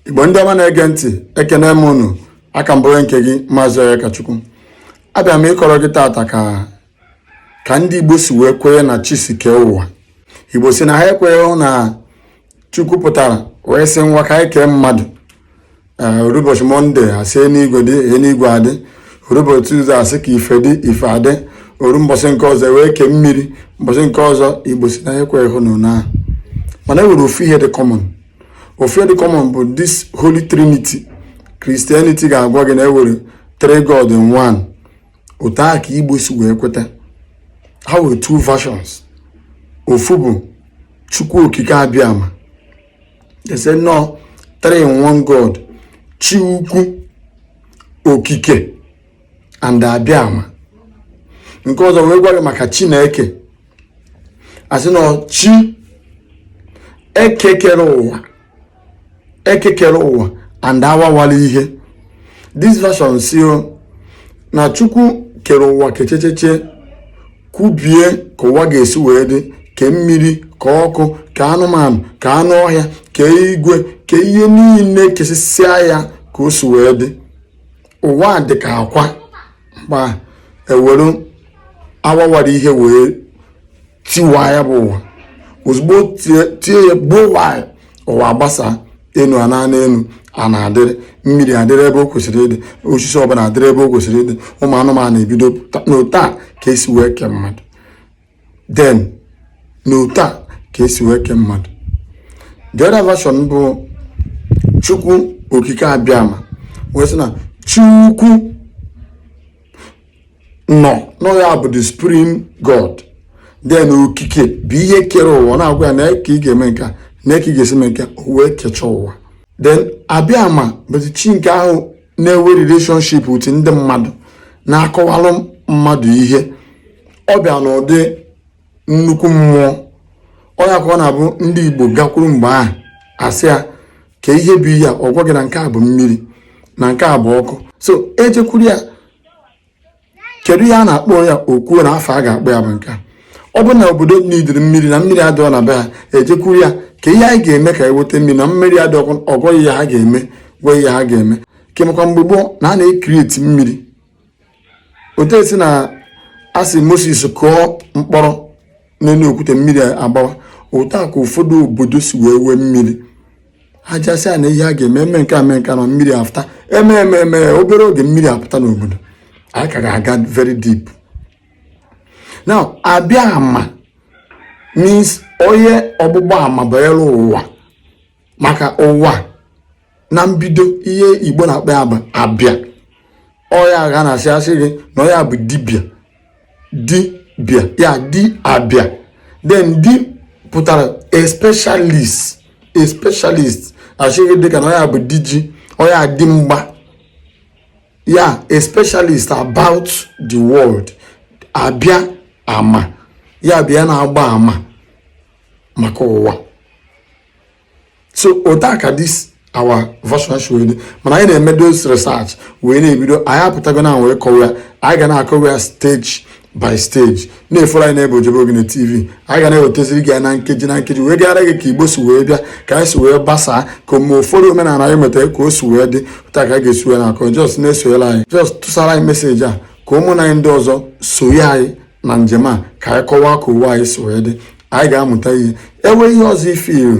igbo ndị ọma na-ege ntị ekene m unu aka m bụrụ nke gị maazị Onyekachukwu abịa m ịkọrọ gị tata ka ka ndị igbo si wee kwenye na chi si kee ụwa igbo sị na ha ekweghị na chukwu pụtara wee sị ngwa ka anyị kee mmadụ eh, ụbọchị mọnde a sị enigwe dị enigwe adị ụbọchị tuzdee a sị ka ife dị ife adị o ruo mbọsị nke ọzọ wee kee mmiri mbọsị nke ọzọ igbo sị na ekweghị hụ na mana e nwere ofu ihe dị common ife dị common bụ this holy trinity Christianity ga-agwa gị na e nwere three god in one otu a ka igbo si wee kweta ha nwere two versions ofu bụ chukwu okike abịama a sị na ọ three in one god chi ukwu okike and abịama nke ọzọ wee gwa gị maka chineke a sị na chi eke kere ụwa eke kere ụwa and awawara ihe this version sị na chukwu kere ụwa kechecheche kwubie ka ụwa ga-esi wee dị ke mmiri ka ọkụ ka anụmanụ ka anụ ọhịa ka igwe ka ihe niine kesịsịa ya ka o si wee dị ụwa dị ka akwa ma e were awawara ihe wee tiwa ya bụ ụwa ozugbo tie ya gbuwaa ụwa gbasa enu na ana enu ana adịrị mmiri adịrị ebe o kwesịrị ịdị osisi ọbụla adịrị ebe o kwesịrị ịdị ụmụ anụmanụ ebido na otu a ka e si wee kee mmadụ then na otu a ka e si wee kee mmadụ the other version bụ chukwu okike abịama wee sị na chukwu n'onwe ya bụ the supreme god then okike bụ ihe kere ụwa na-agwa ya na ka ị ga-eme nke a na ka ị ga-esi mee nke o wee kechaa ụwa then abịama bụzi chi nke ahụ na-enwe relationship with ndị mmadụ na-akọwalụ mmadụ ihe ọ bịa n'ụdị nnukwu mmụọ ọ ya ka ọ na-abụ ndị Igbo gakwuru mgbe ahụ a sị ya ka ihe bụ ihe a ọ gwa gị na nke a bụ mmiri na nke a bụ ọkụ so e jekwuru ya kedu ihe a na-akpọ ya o kwuo na afa a ga-akpọ ya bụ nke ọ bụ na obodo n'idiri mmiri na mmiri adịọ na be ha e jekwuru ya ka ihe anyị ga-eme ka e weta mmiri na mmiri adị ọ gwa gị ihe ha ga-eme gwa ihe ha ga-eme kemekwa mgbe gboo na a na-ecreate mmiri otu e si na-asị Moses kụọ mkpọrọ n'enu okwute mmiri agbawa otu a ka ụfọdụ obodo si wee nwee mmiri a ja-asị na ihe a ga-eme e mee nke a mee nke na mmiri apụta e mee e mee e mee obere oge mmiri apụta n'obodo anyị ka ga-aga very deep now abịa ama means onye ọgbụgba ama banyere ụwa maka ụwa na mbido ihe igbo na-akpọ ya bụ abịa ọ ya ka a na-asị a sị gị na onye a bụ dibịa dibịa ya di abịa then di pụtara a specialist a specialist a sị gị dịka na onye a bụ di ji onye a di mgba ya a specialist about the world abịa ama ya bịa na-agba ama maka ụwa so otu a ka this our version dị mana anyị na-eme those research wee na-ebido anyị apụtago na wee kọwaa ya anyị ga na-akọwa ya stage by stage na-efollow anyị n'ebe ojebe ogene tv anyị ga na-ewetaziri gị ya na nkeji na nkeji wee kọwara gị ka igbo si wee bịa ka anyị si wee gbasaa ka omume ụfọdụ omenala anyị metara ka o si wee dị pụta ka a ga-esi wee na-akọ just na-esonyere anyị just tụsara anyị message a ka ụmụnna anyị ndị ọzọ sonye anyị na njem a ka anyị kọwaa ka ụwa anyị si wee dị anyị ga-amụta ihe i nwee ihe ọzọ i feel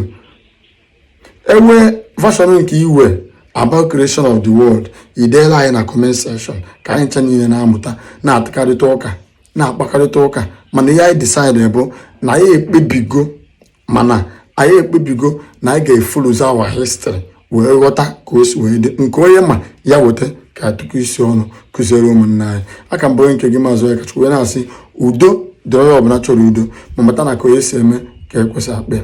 i nwee version nke i nwe about creation of the world i deela anyị na comment section ka anyị ncha niile na-amụta na-atụkarịta ụka na-akpakarịta ụka mana ihe anyị decide bụ na anyị ekpebigo mana anyị ekpebigo na anyị ga-efollowzi our history wee ghọta ka o si wee dị nke onye ma ya weta ka a tụkọ isi ọnụ kụziere ụmụnna anyị a ka m bụ onye nke gị maazị onyekachukwu wee na-asị udo dịrị onye ọbụla chọrọ udo ma mata na ka onye si eme ka e kwesị akpọ ya